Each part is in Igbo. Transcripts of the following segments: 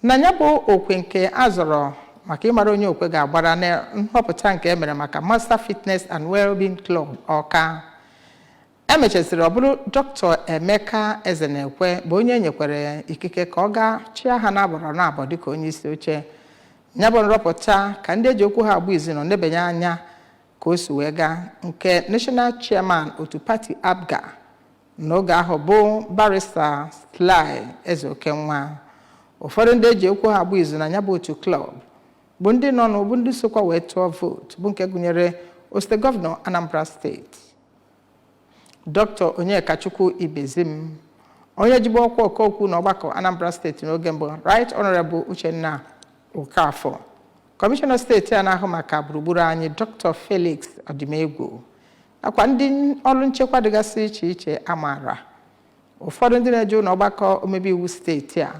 Na ya bụ okwe nke a zọrọ maka ịmara onye okwe ga-agbara na nhọpụta nke e mere maka Master Fitness and Wellbeing Club Ọka. E mechaziri ọ bụrụ Dr. Emeka Ezenekwe bụ onye e nyekwere ikike ka ọ gaa chịa ha n'agbọrọ n'abọ dịka onye isi oche. Ya bụ nrọpụta ka ndị eji okwu ha agba izu nọ nebanye anya ka o si wee gaa nke National Chairman otu pati APGA n'oge ahụ bụ barista Sly Ezeokenwa ụfọdụ ndị eji okwu ha agba izu na ya bụ otu klọb bụ ndị nọnụ bụ ndị sokwa wee tụọ vootu bụ nke gụnyere osote gọvanọ Anambra steeti Dr. Onyekachukwu Ibezim onye jibu ọkwa ọkaokwu na ọgbakọ Anambra steeti n'oge mbụ Right Honorable Uchenna Okafor kọmishọna steeti a na-ahụ maka gburugburu anyị Dr. Felix Odimegwu nakwa ndị ọlụ nchekwa dịgasị iche iche a maara ụfọdụ ndị na-eje ụnọ ọgbakọ omebe iwu steeti a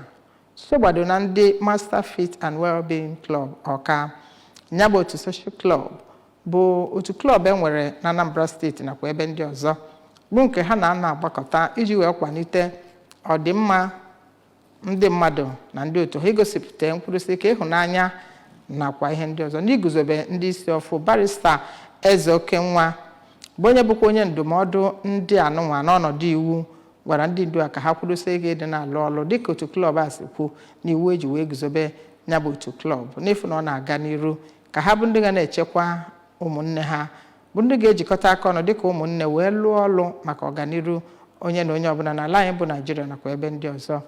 sogbado na ndị Master Fit and Wellbeing Club Ọka ya bụ otu social club bụ otu klọb e nwere na Anambra steeti nakwa ebe ndị ọzọ bụ nke ha na-ana agbakọta iji wee kwanite ọdịmma ndị mmadụ na ndị otu ha igosipụta nkwudosi ike ịhụnanya nakwa ihe ndị ọzọ n'iguzobe ndị isi ọfụ barista Ezeokenwa bụ onye bụkwa onye ndụmọdụ ndị anụnwa n'ọnọdụ iwu gwara ndị ndu a ka ha kwudosie ike ịdị na-alụ ọlụ dịka otu klọb a si kwuo na iwu eji wee guzobe ya bụ otu klọb n'ịfụ na ọ na-aga n'iru ka ha bụ ndị ga na-echekwa ụmụnne ha bụ ndị ga-ejikọta aka ọnụ dịka ụmụnne wee lụọ ọlụ maka ọganiru onye na onye ọbụla n'ala anyị bụ Naịjirịa nakwa ebe ndị ọzọ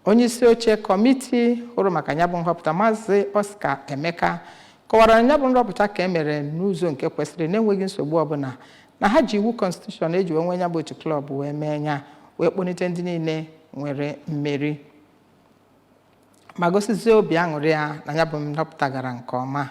onye isi oche kọmiti hụrụ maka ya bụ nhọpụta maazị Oscar Emeka kọwara na ya bụ nrọpụta ka e mere n'ụzọ nke kwesịrị na-enweghị nsogbu ọbụla na ha ji iwu kọnstitushọn eji wee nwe ya bụ otu klọb wee mee ya wee kpọlite ndị niile nwere mmeri ma gosizie obi aṅụrị ya na ya bụ nhọpụta gara nke ọma